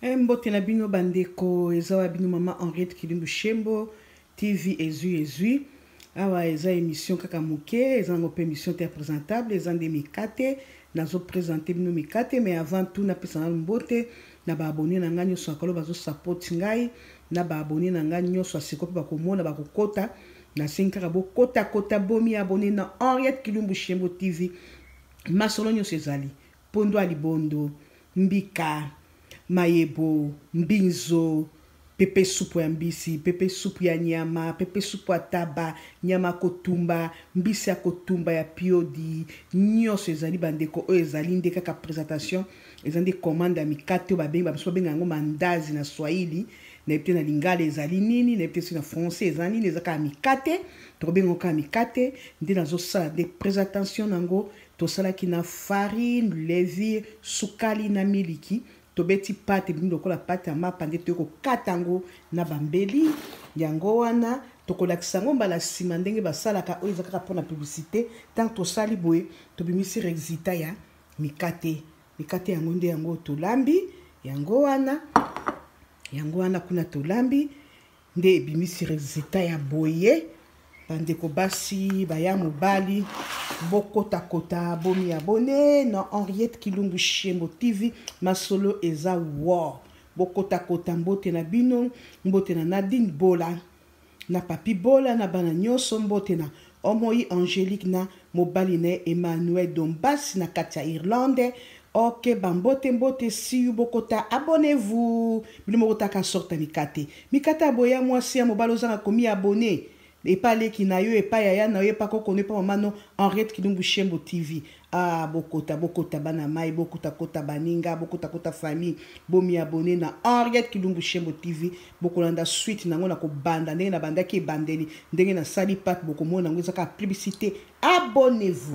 Eh, mbote na bino bandeko eza wa bino mama henriette kilimbu shembo tv ezwi ezwi awa eza émission kaka moke eza yango mpe émission te ya présentable eza nde mikate nazopresente bino mikate mais avant tout napesa nano mbote na baabone na ngai nyonso akolo bazosapoti ngai na baabone na ngai nyonso asiko mpe bakomona bakokota nasengi kaka bokotakota bomi abone na henriette kilumbu shembo tv masolo nyonso ezali Mpondu ya libondo, mbika, mayebo, mbinzo, pepe supu ya mbisi, pepe supu ya nyama, pepe supu ya taba, nyama ya kotumba, mbisi ya kotumba ya piodi, nyoso ezali bandeko oyo ezali nde kaka presentation, eza nde commande ya mikate oyo babengi bamisusu babenga yango mandazi na swahili, nayebi te na lingala ezali nini, nayebi te soki na français eza nini, eza kaka mikate, tokobenga yango kaka mikate, nde nazosala nde presentation na yango Tosalaki na farine, levire, sukali na miliki. Tobeti pate ebimi lokola pate ya mapa nde toye kokata yango na bambeli. Yango wana tokolakisa yango mbala nsima ndenge basalaka oyo eza kaka mpo na publicité. Ntango tosali boye tobimisi resultat ya mikate. Mikate yango nde yango tolambi yango wana yango wana kuna tolambi nde ebimisi resultat ya boye bandeko basi baya mobali bokotakota bomi abone na henriette kilungu shembo tv masolo eza wo bokotakota mbote na bino mbote na nadine bola na papi bola na bana nyonso mbote na Omoyi Angelique na mobali na ye Emmanuel Dombas na kati ya Irlande. Ok ba mbote mbote siu bokota abonnez vous bino moko taka sorte ya mikate mikate ya boye ya mwasi ya mobali ozanga komi abonne epa leki na yo epa yaya na yo epa koko no epa mama no Henriette Kilumbu Shembo TV Ah, bokota, bokota bana mai, bokota kota baninga, bokota kota famille, bomi abonné na Henriette Kilumbu Shembo TV, bokolanda suite nango na kobanda ndenge na bandaki ebandeli, ndenge na sali pat bokomona nango ezaka publicité. Abonnez-vous.